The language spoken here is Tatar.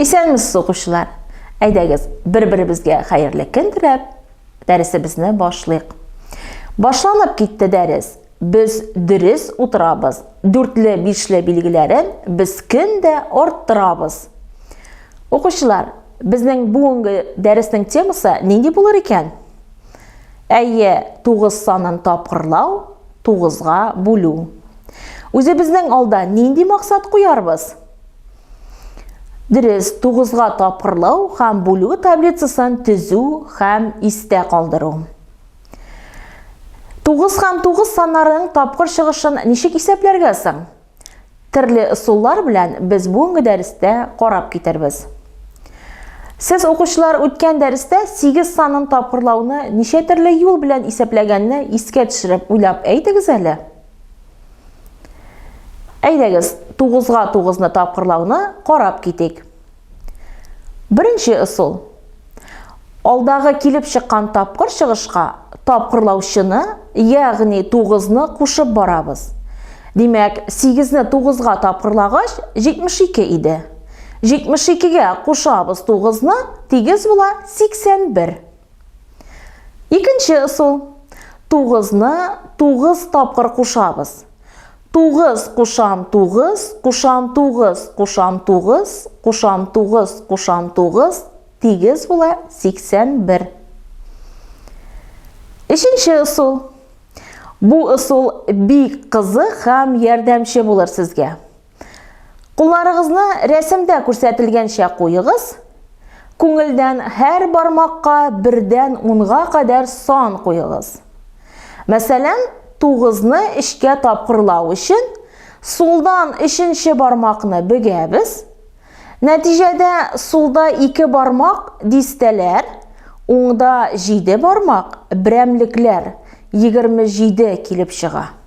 Исәнмесез, укучылар! Әйдәгез, бер-беребезгә хәерле көн теләп, дәресебезне башлыйк. Башланып китте дәрес. Без дөрес утырабыз. Дүртле, бишле билгеләрен без көн дә арттырабыз. Укучылар, безнең бүгенге дәреснең темасы нинди булыр икән? Әйе, 9 санын тапкырлау, 9-га бүлү. Үзебезнең алда нинди максат куярбыз? Дөрес, тугызга тапкырлау һәм бүлү таблицасын төзү һәм истә калдыру. Тугыз һәм тугыз саннарының тапкыр чыгышын ничек исәпләргә соң? Төрле ысуллар белән без бүгенге дәрестә карап китербез. Сез укучылар үткән дәрестә 8 санын тапкырлауны ничә төрле юл белән исәпләгәнне искә төшереп уйлап әйтегез әле. Әйдәгез, тугызга тугызны тапкырлауны карап китик. Беренче ысул. Алдагы килеп чыккан тапкыр чыгышка тапкырлаучыны, ягъни тугызны кушып барабыз. Димәк, сигезне тугызга тапкырлагач, 72 иде. 72-гә кушабыз тугызны, тигез була 81. Икенче ысул. Тугызны тугыз тапкыр кушабыз. Тугыз кушан тугыз, кушан тугыз, кушан тугыз, кушан тугыз, кушан тугыз, тигез була 81. Өченче ысул. Бу ысул бик кызык һәм ярдәмче булыр сезгә. Кулларыгызны рәсемдә күрсәтелгәнчә куегыз. Күңелдән һәр бармакка бердән унга кадәр сан куегыз. Мәсәлән, тугызны эшкә тапкырлау өчен сулдан өченче бармакны бөгәбез. Нәтиҗәдә сулда ике бармак дистәләр, уңда җиде бармак берәмлекләр, егерме җиде килеп чыга.